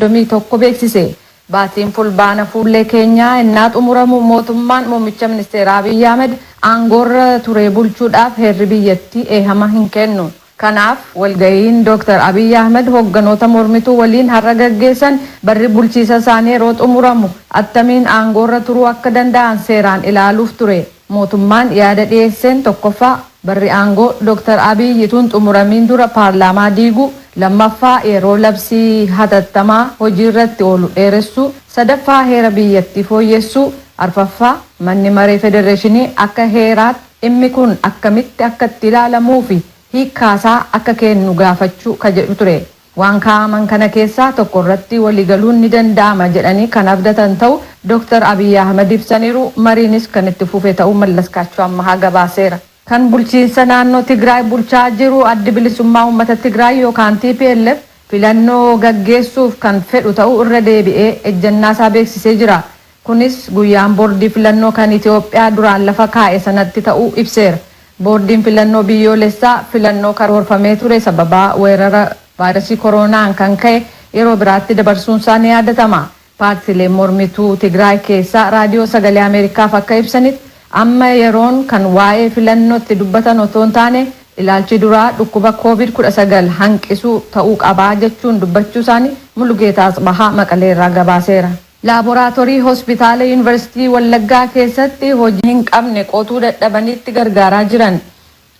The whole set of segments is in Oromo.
31 beeksise. Baatiin Fulbaana fuullee keenyaa ennaa xumuramu mootummaan muummicha ministeeraa Abiy Ahmed aangoorra turee bulchuudhaaf heerri biyyattii eehama hin kennu. Kanaaf walgahiin Dr. Abiy Ahmed hogganoota mormituu waliin har'a gaggeessan barri bulchiisa isaanii yeroo xumuramu attamiin aangoorra turuu akka danda'an seeraan ilaaluuf ture. Mootummaan yaada dhiyeesseen 1ffaa. Barri aangoo Dr. Abiy utuu hin xumuramiin dura paarlaamaa diiguu, lammaffaa yeroo labsii hatattamaa hojiirra itti oolu dheeressuu, sadaffaa heera biyyattii fooyyessuu, arfaffaa manni maree federeeshinii akka heeraatti dhimmi kun akkamitti akka itti ilaalamuufi hiikkaasaa akka kennu gaafachuu ka jedhu ture. Waan kaa'aman kana keessaa tokko irratti walii galuun ni danda'ama jedhanii kan abdatan ta'u Dooktar Abiy Ahimad ibsaniiru. Mariinis kan itti fufe ta'uu Mallaskaachoo Ammahaa gabaaseera. Kan bulchiinsa naannoo Tigraay bulchaa jiru Addi Bilisummaa Uummata Tigraay yookaan tplf filannoo gaggeessuuf kan fedhu ta'uu irra deebi'ee ejjannaa isaa beeksisee jira. Kunis guyyaan Boordii Filannoo kan Itiyoophiyaa duraan lafa kaa'e sanatti ta'uu ibseera. Boordiin Filannoo Biyyoolessaa filannoo karoorfamee ture sababaa weerara vaayrasii koroonaan kan ka'e yeroo biraatti dabarsuunsaa ni yaadatama. Paartiileen mormituu Tigraay keessaa Raadiyoo Sagalee Ameerikaaf akka ibsanitti, amma yeroon kan waa'ee filannoo itti dubbatan otoo hin taane ilaalchi duraa dhukkuba Covid 19 hanqisuu ta'uu qaba jechuun dubbachuusaanii Mulugeetaa Atsbahaa Maqaleerraa gabaaseera. Laaboraatorii Hospitaala Yuunivarsiitii Wallaggaa keessatti hojii hin qabne qotuu dadhabanitti gargaaraa jiran.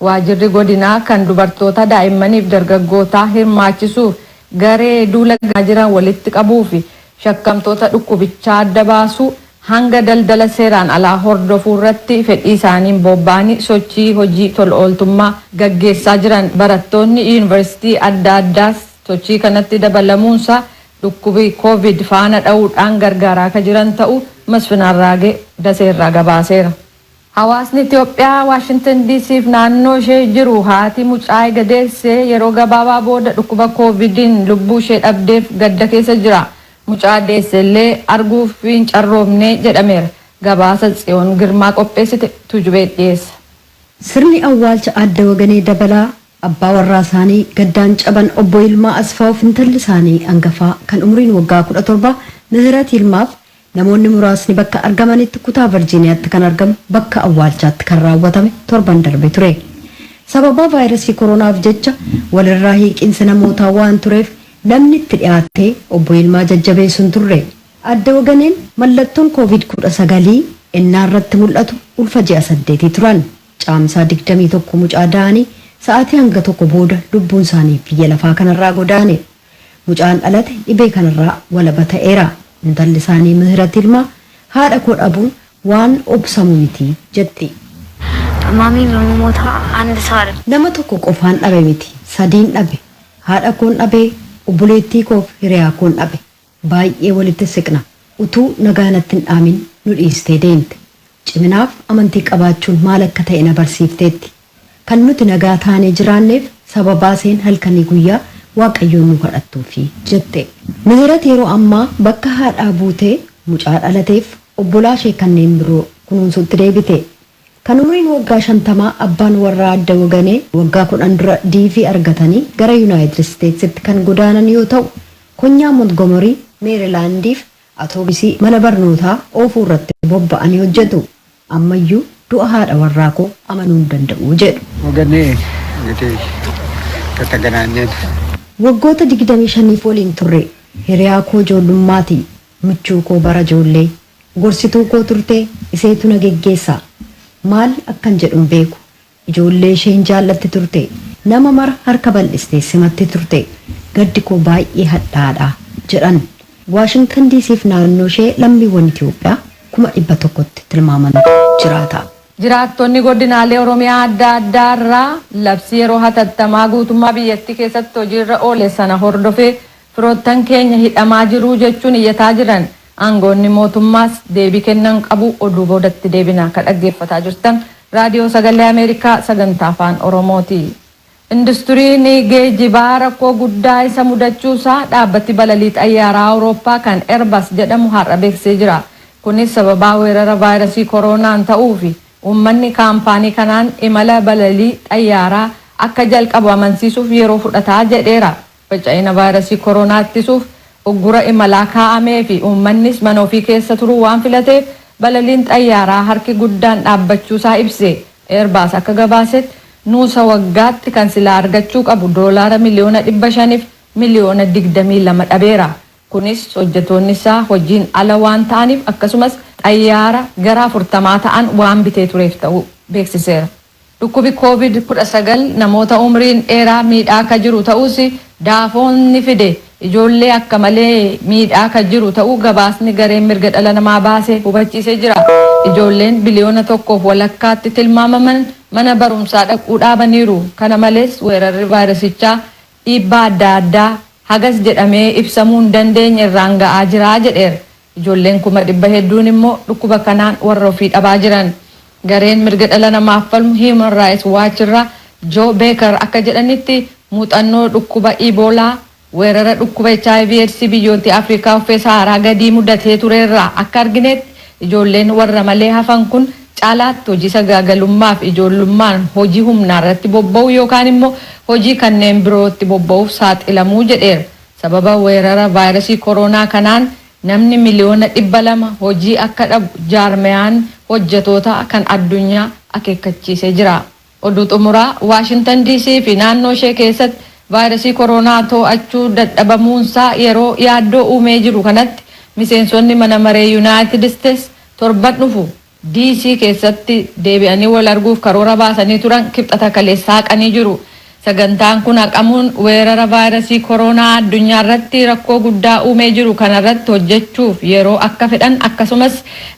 Waajirri Godinaa kan dubartoota daa'immaniif dargaggootaa hirmaachisuuf garee duula gaggeessaa jiran walitti qabuufi shakkamtoota dhukkubichaa adda baasuu hanga daldala seeraan alaa hordofuurratti fedhii isaaniin boobba'anii sochii hojii tol ooltummaa gaggeessaa jiran barattoonni Yuunivarsiitii adda addaas sochii kanatti dabalamuunsaa dhukkubi Covid faana dha'uudhaan gargaaraa akka jiran ta'uu Masfin Arraagee Dasee irraa gabaaseera. Hawaasni Itoophiyaa Washington DC fi naannoo ishee jiru haati mucaa ega deessee yeroo gabaabaa booda dhukkuba Covid'n lubbuu ishee dhabdeef gadda keessa jira. Mucaa deesse illee arguuf hin carroomne jedhameera. Gabaasa Tsiyoon Girmaa qopheessite Tuujubee dhiyeessa. Sirni awwaalcha Aadde Waganee Dabalaa Abbaa warraa isaanii gaddaan caban Obbo Yilmaa Asfaawuuf intalli isaanii angafaa kan umriin waggaa 17 Mihirat Yilmaaf namoonni muraasni bakka argamanitti kutaa Varjiiniyaatti kan argamu bakka awwaalchaatti kan raawwatame torban darbe ture. Sababaa vaayrasii koronaaf jecha walirraa hiiqiinsi namootaa waan tureef namni itti dhiyaattee Obbo Yilmaa jajjabeessu hin turre. Aadde Waganeen mallattoon Covid 19 ennaa irratti mul'atu ulfa ji'a saddeetii turan. Caamsaa 21 mucaa da'ani sa'aatii hanga tokko booda lubbuun isaanii biyya lafaa kanarraa godaane. Mucaan dhalate dhibee kanarraa walaba ta'eera. Intalli isaanii Mihirat Yilmaa haadha koo dhabuun waan obsamu miti jetti. Maamiin namootaa and saare. Nama tokko qofaan dhabe miti, sadiin dhabe. Haadha koon dhabe, obboleettii koof hiriyaa koon dhabe. Baay'ee walitti siqna. Utuu nagaa natti hin dhaamin nu dhiistee deemte. Ciminaaf amantii qabaachuun maal akka ta'e na barsiifteetti. Kan nuti nagaa taanee jiraanneef sababaa isheen halkanii guyyaa Waaqayyoon nu kadhattuufi, jette. Mihirat yeroo ammaa bakka haadhaa buutee mucaa dhalateef obbolaa ishee kanneen biroo kunuunsuutti deebite. Kan umriin waggaa shantamaa abbaan warraa Aadde Waganee waggaa kudhan dura DV argatanii gara Yunaayitid Isteetsitti kan godaanan yoo ta'u, konyaa Montgomery, Meerilaandiif atoobisii mana barnootaa oofuu irratti bobba'anii hojjetu. Ammayyuu du'a haadha warraa koo amanuu hin danda'u, jedhu. Waganee, Engitii tataganaanyeen. Waggoota digdamii shaniif waliin turre. Hiriyaa koo ijoollummaati. Michuu koo bara ijoollee. Gorsituu koo turte, iseetu na geggeessa. Maal akkan jedhu hin beeku. Ijoollee ishee hin jaallatti turte. Nama mara harka bal'istee simatti turte. Gaddi koo baay'ee hadhaa'aa dha, jedhan. Waashingtan DC fi naannoo ishee lammiiwwan Itiyoophiyaa kuma 100tti tilmaamantu jiraata. Jiraattonni Godinaalee Oromiyaa adda addaa irraa labsii yeroo hatattamaa guutummaa biyyattii keessatti hojiirra oole sana hordofee firoottan keenya hidhamaa jiru jechuun iyyataa jiran. Aangoonni mootummaas deebii kennan qabu oduu boodatti deebina ka dhaggeeffataa jirtan Raadiyoo Sagalee Ameerikaa Sagantaa Afaan Oromooti. Industuriin geejibaa rakkoo guddaa isa mudachuu isaa dhaabbati balalii xayyaaraa Awurooppaa kan Airbus jedhamu har'a beeksisee jira. Kunis sababaa weerara vaayrasii koroonaan ta'uu fi uummanni kaampaanii kanaan imala balalii xayyaaraa akka jalqabu amansiisuuf yeroo fudhata jedheera. Faca'ina vaayrasii koroonaa ittisuuf uggura imalaa kaa'amee fi uummannis mana ofii keessa turuu waan filateef balaliin xayyaaraa harki guddaan dhaabbachuusaa ibse. Airbus akka gabaasetti nuusa waggaatti kan silaa argachuu qabu doolaara miliyoona 500f miliyoona 22 dhabeera. Kunis hojjetoonni isaa hojiin ala waan ta'aniif akkasumas xayyaara gara 40 ta'an waan bitee tureef ta'uu beeksiseera. Dhukkubi Covid 19 namoota umriin dheeraa miidhaa ka jiru ta'uus Daafoon ni fide ijoollee akka malee miidhaa ka jiru ta'uu gabaasni gareen mirga dhala namaa baase hubachiisee jira. Ijoolleen biliyoona tokkoof walakkaatti tilmaamaman mana barumsaa dhaquu dhaabaniiru. Kana malees weerarri vaayirasichaa dhiibbaa adda addaa hagas jedhamee ibsamuu hin dandeenye irraan ga'aa jira jedheera. Ijoolleen kuma dhibba hedduun immoo dhukkuba kanaan warra ofii dhabaa jiran. Gareen mirga dhala namaaf falmu Human Rights Watch irraa Joe Baker akka jedhanitti muuxannoo dhukkuba Ebola, weerara dhukkuba hiv, Eedsii biyyoottii Afrikaa uffee Sahaaraa gadii mudatee ture irraa akka argineetti ijoolleen warra malee hafan kun caalaatti hojii sagaagalummaa fi ijoollummaan hojii humnaa irratti bobba'uu yookaan immoo hojii kanneen birootti bobba'uuf saaxilamuu jedheera. Sababa weerara vaayrasii koroonaa kanaan namni miliyoona 200 hojii akka dhabu jaarmayaan hojjetootaa kan addunyaa akeekkachiisee jira. Oduu xumuraa Waashintan DC fi naannoo ishee keessatti vaayrasii koroonaa too'achuu dadhabamuunsaa yeroo yaaddoo uumee jiru kanatti miseensonni mana maree Yunaayitid Isteets torban dhufu DC keessatti deebi'anii wal arguuf karoora baasanii turan Kibxata kaleessaa haqanii jiru. Sagantaan kun haqamuun weerara vaayrasii koroonaa addunyaarratti rakkoo guddaa uumee jiru kanarratti hojjechuuf yeroo akka fedhan akkasumas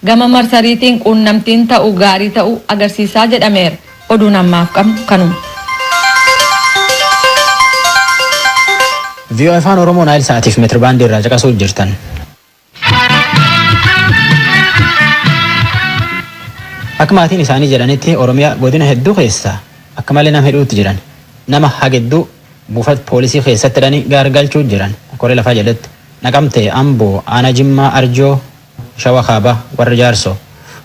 gama marsariitiin quunnamtiin ta'u gaarii ta'u agarsiisaa jedhameera. Oduun ammaaf qabnu kanuma. Voa Afaan Oromoo Naayil Sa'aatiif meetirbaandii irraa caqasuu jirtan. Akka maatiin isaanii jedhanitti Oromiyaa godina hedduu keessaa akka malee nama hidhuutti jiran. Nama hagedduu buufata poolisii keessatti hidhanii gaargalchuu jiran. Koree lafaa jedhetti. Naqamtee, Amboo, Aanaa Jimmaa, Arjoo, Shawa Kaabaa, warra Jaarsoo,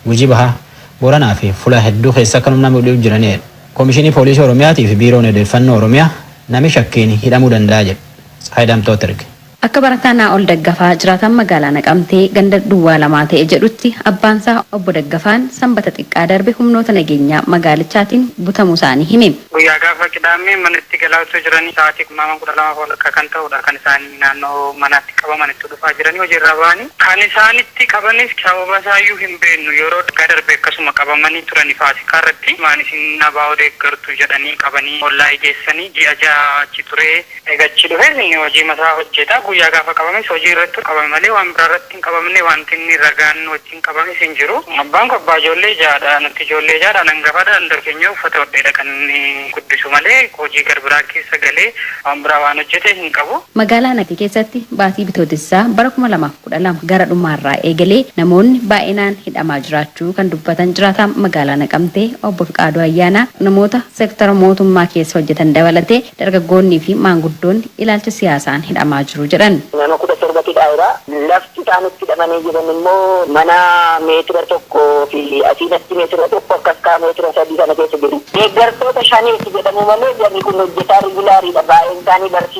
Gujii Bahaa, Booranaa fi Fulaa hedduu keessa akkanum nama hidhuu jiranii jedha. Koomishinii Poolisii Oromiyaatii fi Biiroon Odeeffannoo Oromiyaa nami shakkiin hidhamuu danda'a jedhu. Tsahaay Daamxootti erge. Akka barataa Naa'ol Daggafaa jiraataan magaalaa Naqamtee ganda duwwaa lamaa ta'e jedhutti abbaansaa Obbo Daggafaan Sanbata xiqqaa darbe humnoota nageenyaa magaalichaatiin butamuusaanii hime. Guyyaa gaafa Qidaammee manatti galaa utuu jiranii sa'aatii tilmaamaan 12 fi walakkaa kan ta'udha kan isaan naannoo manaatti qabaman utuu dhufaa jiranii hojii irraa bahanii kan isaan itti qabanis sababa isaayyuu hin beeknu yeroo waggaa darbe akkasuma qabamanii turani faasikaa irratti maan isin abo deeggartu jedhanii qabanii Wallaayi geessanii ji'a ja'a achi turee Eega achii dhufees inni hojiima isaa hojjeta. Guyyaa gaafa qabames hojii irrattu qabame malee waan biraa irratti hin qabamne. Waanti inni ragaan wajjin qabames hin jiru. Abbaan koo abbaa ijoollee ja'a dha. Nuti ijoollee ja'a dhaan hangafa dha. Hunda keenya uffata hodhee dha kan inni guddisu malee hojii gar biraa keessa galee waan biraa waan hojjete hin qabu. Magaalaa Naqi keessatti baatii Bitootessaa bara 2000. 12 gara dhumaarraa eegalee namoonni baay'inaan hidhamaa jiraachuu kan dubbatan jiraataan magaalaa Naqamtee Obbo Fiqaaduu Ayyaanaa, namoota sektara mootummaa keessa hojjetan dabalatee dargaggoonnii fi maanguddoonni ilaalcha siyaasaan hidhamaa jiru jedhan. Nama 17 hidhaera. Lafti isaan itti hidhamanii jiran immoo mana meetira tokko fi asiin achi meetira tokko akkas kaa meetira sadii kana keessa jiru. Deeggartoota Shaneeti jedhamu malee jarri kun hojjetaa regulaariidha. Baay'een isaanii barsiisota.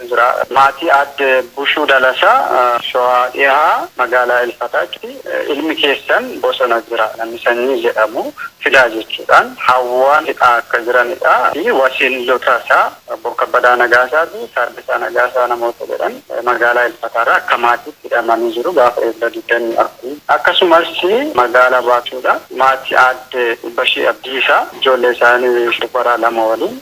jira. Maatii Aadde Bushuu Dalasaa, Showaa Dhihaa, magaalaa Ilfataatti ilmi keessan bosona jira, namni Sanyii jedhamu fidaa jechuudhaan hawwaa fixaa akka jiranidha fi wasiillotasaa Obbo Kabbadaa Nagaasaa fi Taaddasaa Nagaasaa namoota jedhan magaalaa Ilfataarraa akka maatiitti hidhamanii jiru gaafa Eebla 24. Akkasumas magaalaa Baatuudhaa maatii Aadde Ubbashee Abdiisaa ijoollee isaanii dubaraa lama waliin.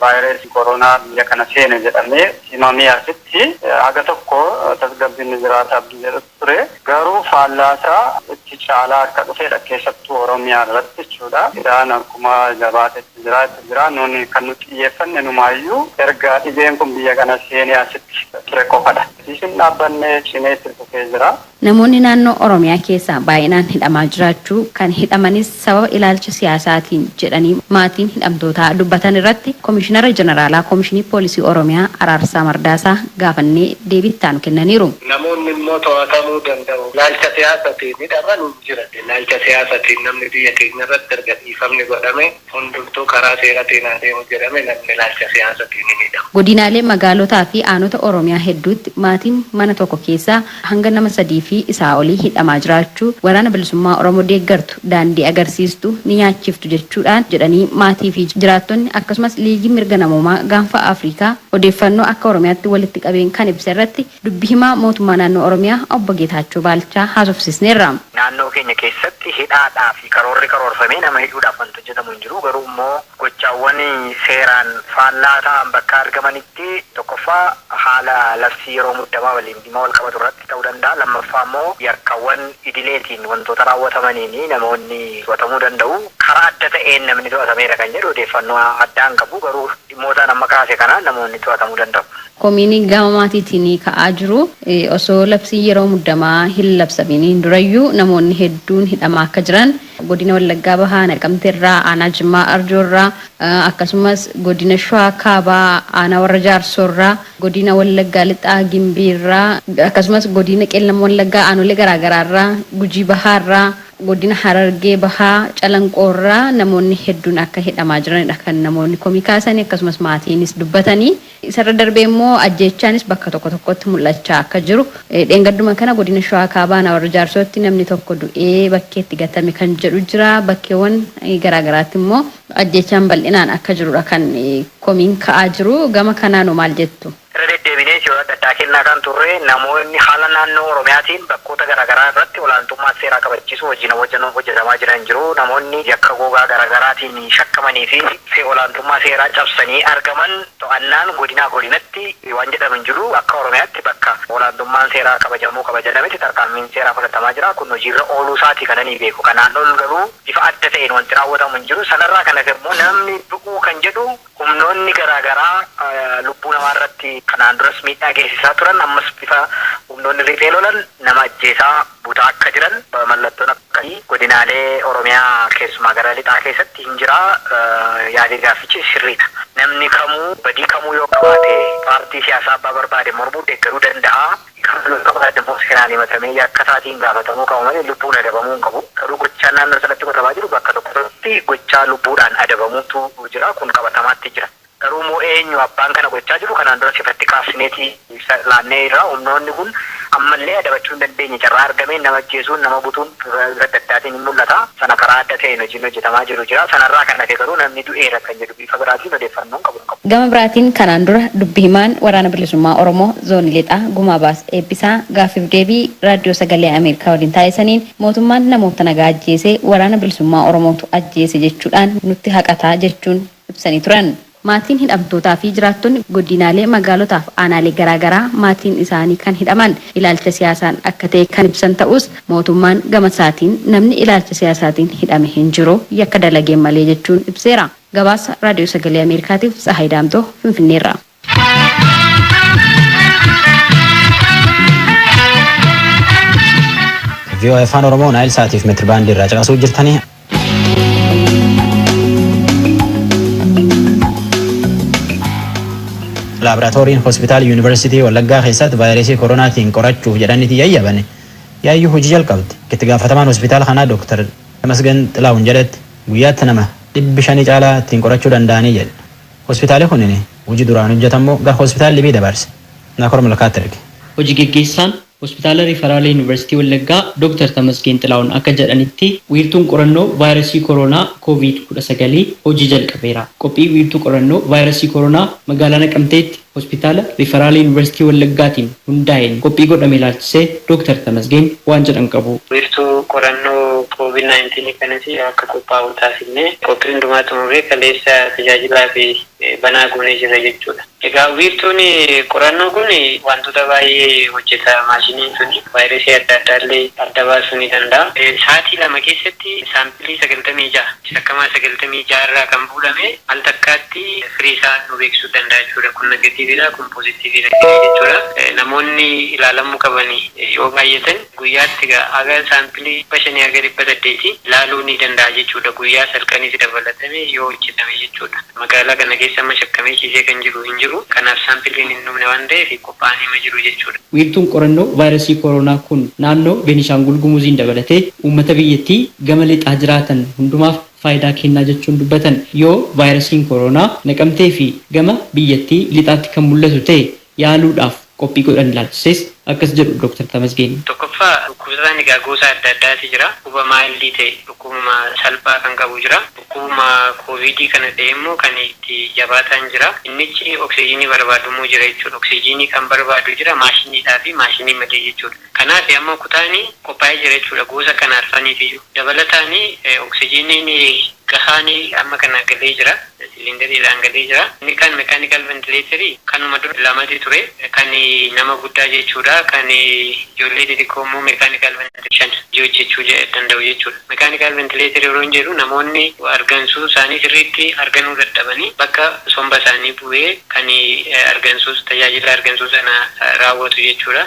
Vaayirasii koronaa biyya kana seene jedhamee himamee asitti haga tokko tasgabbiin ni jiraata abdii jedhutu ture. Garuu faallaasaa itti caalaa akka dhufedha. Keessattuu Oromiyaa irratti jechuudha. Hidhaan akkuma jabaatetti jira, itti jira. Nuuni kan nuti xiyyeeffanne inumaayyuu erga dhibeen kun biyya kana seenee asitti ture qofadha. Asiis hin dhaabbanne, cimee itti fufee jira. Namoonni naannoo Oromiyaa keessaa baay'inaan hidhamaa jiraachuu, kan hidhamanis sababa ilaalcha siyaasaatiin jedhanii maatiin hidhamtootaa dubbatan irratti Komishinara Jeneraalaa Komishinii Poolisii Oromiyaa Araarsaa Mardaasaa gaafannee deebii itti aanu kennaniiru. Namoonni immoo to'atamuu danda'u. Ilaalcha siyaasatiin hidhaman hin jiran. Ilaalcha siyaasatiin namni biyya keenya irratti erga dhiifamni godhamee Hundumtuu karaa seeratiin haa deemu jedhame namni ilaalcha siyaasatiin ni miidhama. Godinaalee, magaalotaa fi aanota Oromiyaa hedduutti maatiin mana tokko keessaa hanga nama sadii fi isaa olii hidhamaa jiraachuu Waraana Bilisummaa Oromoo deeggartu daandii agarsiistu ni nyaachiftu jechuudhaan jedhanii maatii fi jiraattonni akkasumas Liigiin Mirga Namoomaa Gaanfa Afrikaa odeeffannoo akka Oromiyaatti walitti qabeen kan ibse irratti Dubbi himaa mootummaa naannoo Oromiyaa obbo Geetaachoo Baalchaa haasofsiisneerra. Naannoo keenya keessatti hidhaadhaa fi karoorri karoorfamee nama hidhuudhaaf wanti hojjetamu hin jiru. Garuu immoo gochaawwan seeraan faallaa ta'an bakka argamanitti tokkoffaa haala labsii yeroo muddamaa waliin dhimma wal qabatu irratti ta'uu danda'a. Lammaffaa immoo yakkawwan idileetiin wantoota raawwatamaniin namoonni to'atamuu danda'u. Karaa adda ta'een namni to'atameera kan jedhu odeeffannoo addaa hin qabu. Garuu dhimmootaan amma kaase kanaan namoonni to'atamuu danda'u. Komiin gama maatiitiin ka'aa jiru osoo labsiin yeroo muddamaa hin labsamiin durayyuu namoonni hedduun hidhamaa akka jiran Godina Wallaggaa Bahaa Naqamteerraa, Aanaa Jimmaa Arjoorraa, akkasumas Godina Shawaa Kaabaa Aanaa Warra Jaarsoorraa, Godina Wallaggaa Lixaa Gimbiirraa, akkasumas Godina Qeellam Wallaggaa aanolee garaagaraarraa, Gujii Bahaarraa, Godina Harargee Bahaa Calanqoorraa namoonni hedduun akka hidhamaa jiranidha kan namoonni komii kaasanii akkasumas maatiinis dubbatanii. Isarra darbee immoo ajjeechaanis bakka tokko tokkotti mul'achaa akka jiru, dheengadduma kana godina Shawaa Kaabaa aanaa Warra Jaarsootti namni tokko du'ee bakkeetti gatame kan jedhu jira. Bakkeewwan garaa garaatti immoo ajjeechaan bal'inaan akka jirudha kan komiin ka'aa jiru. Gama kanaanoo maal jettu? Irra deddeebinees yeroo adda addaa kennaa kan turre, namoonni haala naannoo Oromiyaatiin bakkoota garaa garaa irratti olaantummaa seeraa kabachiisuu hojiin hojjetamaa jiran jiru. Namoonni yakka gogaa garaa garaatiin. ittiin shakkamanii fi tiksee olaantummaa seeraa cabsanii argaman to'annaan godinaa godinatti waan jedhamu hin jiru. Akka Oromiyaatti bakka olaantummaan seeraa kabajamuu qaba jedhametti tarkaanfiin seeraa fudhatamaa jira. Kun hojiirra ooluu isaati kan ani beeku. Kanaan ol garuu bifa adda ta'een wanti raawwatamu hin jiru. Sanarraa kan hafe immoo namni du'uu kan jedhu Humnoonni garaa garaa lubbuu namaa irratti kanaan duras miidhaa geessisaa turan ammas bifa humnoonni riphee lolan nama ajjeesaa butaa akka jiran mallattoon akkasii godinaalee Oromiyaa keessumaa gara lixaa keessatti hin jira yaadii gaaffichi sirriidha. Namni kamuu badii kamuu yoo qabaate paartii siyaasaa abbaa barbaade mormuu, deeggaruu danda'a. Kan kun ta'u adda immoo seeraan himatamee yakka isaatiin gaafatamuu qaba malee lubbuun adabamuu hin qabu. Garuu gochaan naannoo sanatti godhamaa jiru bakka tokko tokkotti gochaa lubbuudhaan adabamuutu jira. Kun qabatamaatti jira. Garuu immoo eenyu abbaan kana gochaa jiru kanaan duras ifatti kaafsineeti ibsa laannee irra. Humnoonni kun amma illee adabachuu hin dandeenye. Carraa argameen nama ajjeesuun, nama butuun bifa adda addaatiin hin mul'ata. Sana karaa adda ta'een hojiin hojjetamaa jiru jira. Sana irraa kan hafe garuu namni du'eera kan jedhu. Bifa biraatiin odeeffannoon qabu hin qabu. Gama biraatiin kanaan dura dubbi himaan Waraana Bilisummaa Oromoo Zoonii Lixaa Gumaa Baas Eebbisaa gaaffiif deebii Raaddiyoo Sagalee Ameerikaa waliin taasisaniin mootummaan namoota nagaa ajjeese Waraana Bilisummaa Oromootu ajjeese jechuudhaan nutti haqata jechuun ibsanii turan. Maatiin hidhamtootaa fi jiraattonni godiinaalee, magaalotaaf aanaalee garaa garaa maatiin isaanii kan hidhaman ilaalcha siyaasaan akka ta'e kan ibsan ta'uus, Mootummaan gamasaatiin namni ilaalcha siyaasaatiin hidhame hin jiru, yakka dalageen malee jechuun ibseera. Gabaasa Raadiyoo Sagalee Ameerikaatiif Tsahaay Daamxoo Finfinneerraa. VOA Afaan Oromoo Naayil Saatiif meetirbaandii irraa caqasuu jirtanii. laaboraatooriin hospitaala yuunivarsiitii Wallaggaa keessatti vaayirasii koronaatiin qorachuuf jedhaniiti yayyabane yaayyuu hojii jalqabde. Itti gaafatamaan hospitaala kanaa Dooktar Tamasgan Xilaahun jedhetti guyyaatti nama dhibbi shanii caalaa ittiin qorachuu danda'anii jedhe. Hospitaali kunin hojii duraan hojjetammoo gara hospitaala libii dabarse. Naakor Malkaatti erge. Hoji geggeessaan Hospitaala Riifaraalaa Yuunivarsiitii Wallaggaa Doktar Tamasgeen Xilaahun akka jedhanitti, wiirtuun qorannoo vaayrasii koroonaa Kooviid 19 hojii jalqabeera. Qophii wiirtuu qorannoo vaayrasii koroonaa magaalaa Naqamteetti Hospitaala Riifaraalaa Yuunivarsiitii Wallaggaatiin hundaa'een qophii godhame ilaalchisee Doktar Tamasgeen waan jedhan qabu. Wiirtuu qorannoo Kooviid 19 kanas akka qophaa'u taasifnee qophii hundumaa xumurree kaleessa tajaajilaafi banaa goonee jirra jechuudha. Egaa wiirtuun qorannoo kun waantota baay'ee hojjeta. Maashiniin sun vaayirasii adda addaa illee adda baasuu ni danda'a. Sa'aatii lama keessatti saampilii 96, shakkamaa 96 irraa kan fuudhame al takkaatti firii isaa nuu beeksisuu danda'a jechuudha. Kun negatiiviidha, kun poozitiiviidha jennee jechuudha. Namoonni ilaalamuu qaban yoo baay'atan Guyyaatti egaa haga saampilii 500-800 laaluu ni danda'a jechuudha, guyyaa salqaniis dabalatame yoo hojjetame jechuudha. Magaalaa kana keessa amma shakkamee ciisee kan jiru hin jiru, kanaaf saampiliin hin dhumne waan ta'eef qophaa'aniima jiru jechuudha. Wiirtuun qorannoo vaayrasii koroonaa kun naannoo Beenishaangul Gumuziin dabalatee uummata biyyattii gama lixaa jiraatan hundumaaf faayidaa kennaa jechuun dubbatan. Yoo vaayrasiin koroonaa Naqamtee fi gama biyyattii lixaatti kan mul'atu ta'e yaaluudhaaf qophii godhan ilaalchisees akkas jedhu Doktar Tamasgeen. Tokkoffaa dhukkubsataan egaa gosa adda addaati jira. Dhukkuba maayildii ta'e, dhukkubuma salphaa kan qabu jira. Dhukkubuma kooviidii kana ta'ee immoo kan itti jabaataan jira. Innichi oksijiinii barbaadu immoo jira jechuudha. Oksijiinii kan barbaadu jira maashiniidhaa fi maashinii malee jechuudha. Kanaafi amma kutaani qophaa'ee jira jechuudha goosa kana arfaniifiyu. Dabalataani oksijiiniin gahaani amma kana galee jira siliindariidhaan galee jira. Inni kaan mekaanikal ventileetarii kanuma dura lamati ture kan nama guddaa jechuudha kan ijoollee xixiqqoo immoo mekaanikal ventileetarii shan hojii hojjechuu danda'u jechuudha. Mekaanikal ventileetarii yeroon jedhu namoonni argansuu isaanii sirriitti arganuu dadhabanii bakka somba isaanii bu'ee kan argansuus tajaajila argansuu sana raawwatu jechuudha.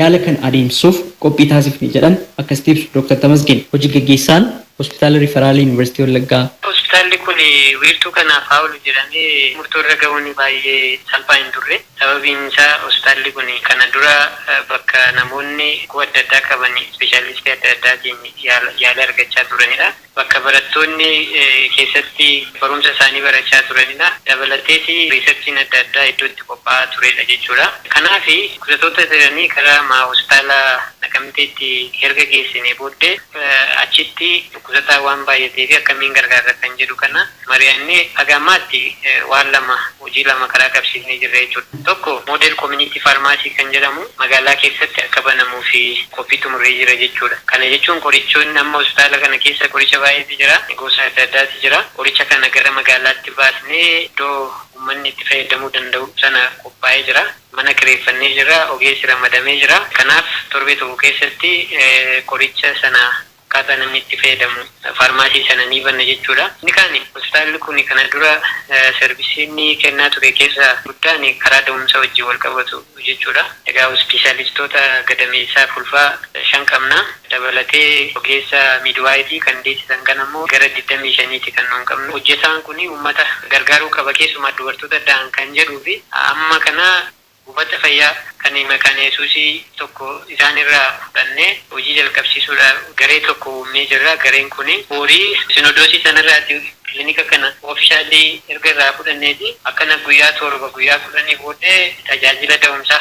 Yaala kana adeemsisuuf qophii taasifne jedhan akkasitti ibsu Doktar Tamasgeen, hoji gaggeessaan Hospitaala Riifaraala Yuunivarsiitii Wallaggaa. Hospitaalli kun wiirtuu kanaaf haa oolu jedhamee murtoo irra gahuun baay'ee salphaa hin turre. Sababiin isaa hospitaalli kun kana dura bakka namoonni dhukkuba adda addaa qaban ispeeshaalistii adda addaatiin yaala argachaa turanidha. bakka barattoonni keessatti barumsa isaanii barachaa turanidha. Dabalateeti riisarchiin adda addaa iddoo itti qophaa'aa turedha jechuudha. Kanaaf kutatoota jiranii gara maa hospitaala Naqamteetti herga geessinee booddee achitti kutataan waan baay'ateefi akkamiin gargaarra kan jedhu kana. mari'annee haga ammaatti waan lama, hojii lama karaa qabsiifnee jirra jechuudha. Tokko Model Community Pharmacy kan jedhamu magaalaa keessatti akka banamuuf qophii xumurree jirra jechuudha. Kana jechuun qorichoonni amma hospitaala kana keessa qoricha baay'eetu jira. Gosa adda addaatu jira. Qoricha kana gara magaalaatti baasnee iddoo ummanni itti fayyadamuu danda'u sana qophaa'ee jira. Mana kireeffannee jirra. Ogeessi ramadamee jira. Kanaaf torbee tokko keessatti qoricha sana akkaataa namni itti fayyadamu faarmaasii sana ni banna jechuudha. Inni kaani hospitaalli kun kana dura sarvisii inni kennaa ture keessaa guddaan karaa da'umsa wajjin wal qabatu jechuudha. Egaa ispeeshaalistoota gadameessaaf ulfaa shan qabna. Dabalatee ogeessa miidwaayifii kan deessisan kana immoo gara 25ti kan nuun qabnu. Hojjetaan kun uummata gargaaruu qaba keessumaa dubartoota da'an kan jedhuu fi amma kana. Buufata fayyaa kan Maqaan Yesuusii tokko isaan irraa fudhannee hojii jalqabsiisuudhaaf garee tokko uumnee jirra. Gareen kun boori Sinodoosii sana irraati kilinika kana officially erga irraa fudhanneeti akkana guyyaa 7, guyyaa 10 booddee tajaajila da'umsaa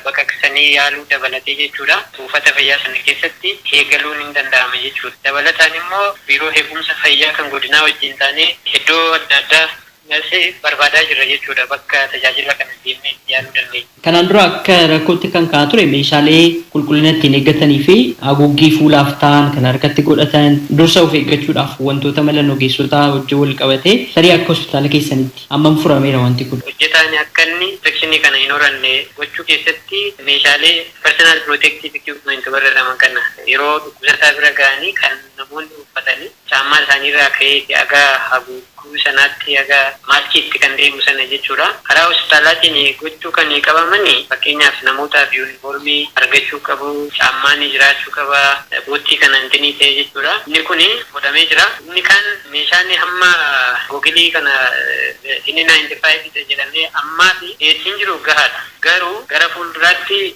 baqaqsanii yaaluu dabalatee jechuudha buufata fayyaa sana keessatti eegaluun in danda'ama jechuudha. Dabalataan immoo biiroo eegumsa fayyaa kan godinaa wajjin taanee iddoo adda addaa Nurse barbaadaa jirra jechuudha bakka tajaajila kana deemnee itti yaaluu dandeenya. Kanaan dura akka rakkootti kan ka'aa ture meeshaalee qulqullina ittiin eeggatanii fi haguuggii fuulaaf ta'an kan harkatti godhatan dursa of eeggachuudhaaf wantoota malan ogeessotaa wajjin wal qabatee tarii akka hospitaala keessanitti hammam furameera wanti kun? Hojjetaan akka inni infekshinii kana hin horanne gochuu keessatti meeshaalee personal protective equipment warra jedhaman kana yeroo dhukkubsataa bira ga'anii kan namoonni uffatanii. caammaa isaanii irraa ka'eeti haga haguugguu sanaatti haga maaskiitti kan deemu sana jechuudha. Karaa hospitaalaatiin gochuu kan qabaman fakkeenyaaf namootaaf yuunifoormii argachuu qabu, caammaan jiraachuu qaba, boottii kana intinii ta'ee jechuudha. Inni kun godhamee jira. Inni kaan meeshaan hamma gogilii kana N95 dha jedhamee ammaaf dhiyeessiin jiru gahaadha. Garuu gara fuulduraatti.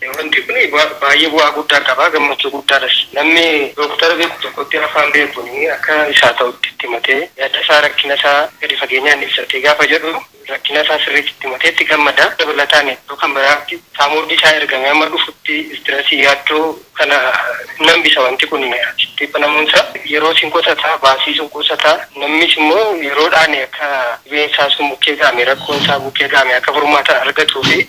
Wanti kun baay'ee bu'aa guddaa qaba, gammachuu guddaadhas. Namni dooktara beeku tokkotti afaan beekuun akka isaa ta'utti itti himatee, yaadasaa, rakkinasaa gadi fageenyaan ibsatee gaafa jedhu rakkinasaa sirriitti itti himatee itti gammada. Dabalataan iddoo kan biraatti saamurri isaa ergamee amma dhufutti istirasii, yaaddoo kana hin hambisa wanti kun achitti banamuunsaa. Yeroos hin qusata, baasiis hin qusata. Namnis immoo yeroodhaan akka dhibeensaa sun bukkee ga'ame, rakkoonsaa bukkee ga'ame akka furmaata argatuufi.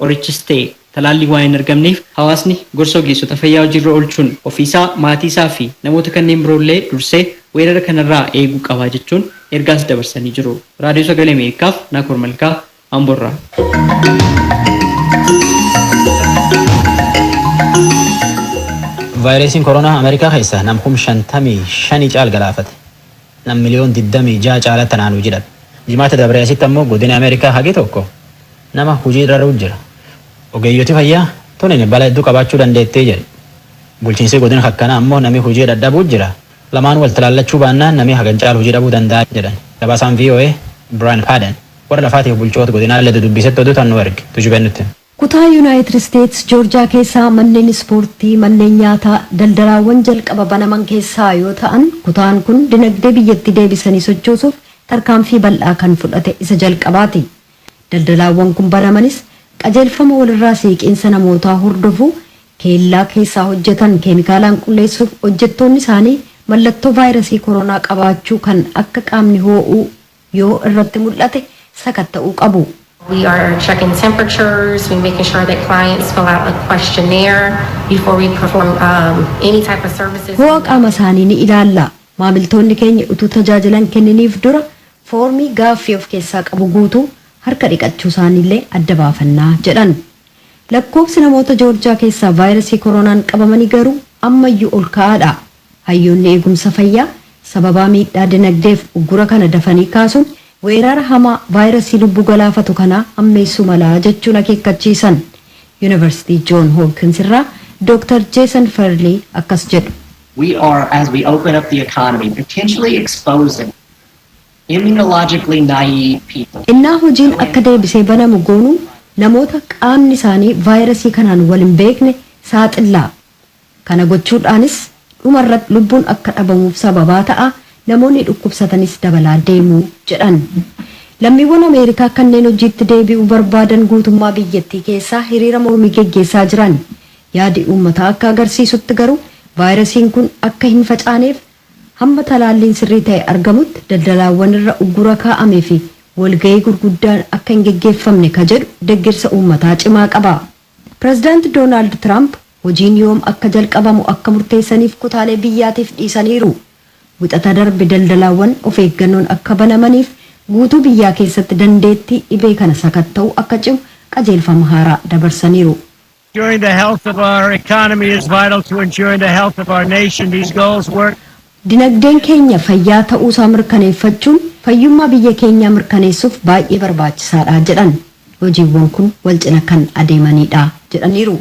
Qorichis ta'e talaalliin waan hin argamneef hawaasni gorsa ogeessota fayyaa hojiirra oolchuun ofiisaa, maatiisaa fi namoota kanneen biroollee dursee weerara kanarraa eeguu qaba jechuun ergaas dabarsanii jiru. Raadiyoo Sagalee Ameerikaaf Naakoor Malkaa, Amboorraa. Vaayiresiin Koronaa Ameerikaa keessa nam kum 55 caal galaafate. nam miliyoon 26 caalatti tanaan hujii dhabe. Jimaata dabree asitti ammoo godini Ameerikaa hagi tokko nama hujii raruu jira. Ogeeyyoti fayyaa tunin bala hedduu qabaachuu dandeetti jedhu. Bulchiinsii godina kakkanaa ammoo nami hujii dhadhabuu jira. Lamaan wal talaallachuu baannaan nami hagan caalu hujii dhabuu danda'a jedhan. Gabaasaan voa Brian Padden warra lafaatiif bulchoota godinaallee dudubbiisetti oduu tan nu erge. Tujubeen nutti hima. Kutaa Yunaayitid Isteets Joorjaa keessaa manneen ispoortii, manneen nyaataa, daldalaawwan jalqaba banaman keessaa yoo ta'an, kutaan kun dinagdee biyyattii deebisanii sochoosuuf tarkaanfii bal'aa kan fudhate isa jalqabaati. Daldalaawwan kun banamanis qajeelfama walirraa siiqiinsa namootaa hordofu keellaa keessaa hojjetan keemikaalaan qulleessuuf hojjettoonni isaanii mallattoo vaayrasii koroonaa qabaachuu kan akka qaamni hoo'uu, yoo irratti mul'ate sakatta'uu qabu. We are checking temperatures, we making sure that clients fill out a questionnaire before we perform um, any type of services. Ho'a qaama isaanii ni ilaalla. Maamiltoonni keenya utuu tajaajilan kenniniif dura foormii gaaffii of keessaa qabu guutuu harka dhiqachuu isaaniillee adda baafannaa jedhan. Lakkoobsi namoota Joorjaa keessaa vaayirasii koronaan qabamanii garuu ammayyuu ol ka'aadha. Hayyoonni eegumsa fayyaa sababaa miidhaa dinagdeef uggura kana dafanii kaasuun weerara hamaa vaayirasii lubbuu galaafatu kanaa hammeessuu mala jechuun akeekkachiisan. Yunivarsitii Joon Hoopkins irraa Dooktar Jeesan Ferlii akkas jedhu. We are, as we open up the economy, potentially exposing immunologically naive people. Ennaa hojiin akka deebisee banamu goonu namoota qaamni isaanii vaayirasii kanaan wal hin beekne saaxilla. Kana gochuudhaanis dhuma irratti lubbuun akka dhabamuuf sababaa ta'a, namoonni dhukkubsatanis dabalaa deemu, jedhan. Lammiiwwan Ameerikaa kanneen hojiitti deebi'uu barbaadan guutummaa biyyattii keessaa hiriira mormii geggeessaa jiran. Yaadi uummataa akka agarsiisutti garuu vaayirasiin kun akka hin facaaneef hamma talaalliin sirrii ta'e argamutti daldalaawwan irra uggura kaa'ame fi walga'ii gurguddaan akka hin geggeeffamne ka jedhu deggersa uummataa cimaa qaba. Pirezidaanti Doonaald Tiraamp hojiin yoom akka jalqabamu akka murteessaniif kutaalee biyyaatiif dhiisaniiru. Wixata darbe daldalaawwan of eeggannoon akka banamaniif guutuu biyyaa keessatti dandeettii dhibee kana sakatta'uu akka cimu qajeelfama haaraa dabarsaniiru. Dinagdeen keenya fayyaa ta'uusaa mirkaneeffachuun fayyummaa biyya keenyaa mirkaneessuuf baay'ee barbaachisaadha jedhan. Hojiiwwan kun walcina kan adeemaniidha jedhaniiru.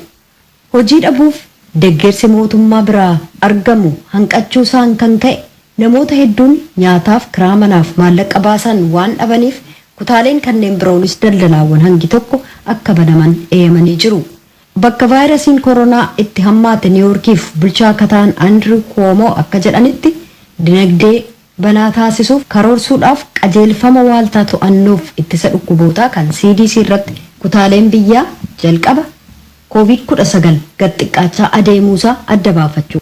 Hojii dhabuuf deggersi mootummaa biraa argamu hanqachuusaan kan ka'e namoota hedduun nyaataaf, kiraa manaaf maallaqqa baasan waan dhabaniif kutaaleen kanneen biroonis daldalaawwan hangi tokko akka banaman eeyamanii jiru. Bakka vaayirasiin koronaa itti hammaate Niiwoorkiif bulchaa akka ta'an Andiriw Kuwoomoo akka jedhanitti, dinagdee banaa taasisuuf karoorsuudhaaf qajeelfama Waaltaa To'annoof Ittisa Dhukkubootaa kan CDC irratti kutaaleen biyyaa jalqaba Covid 19 gad xiqqaachaa adeemuusaa adda baafachuu.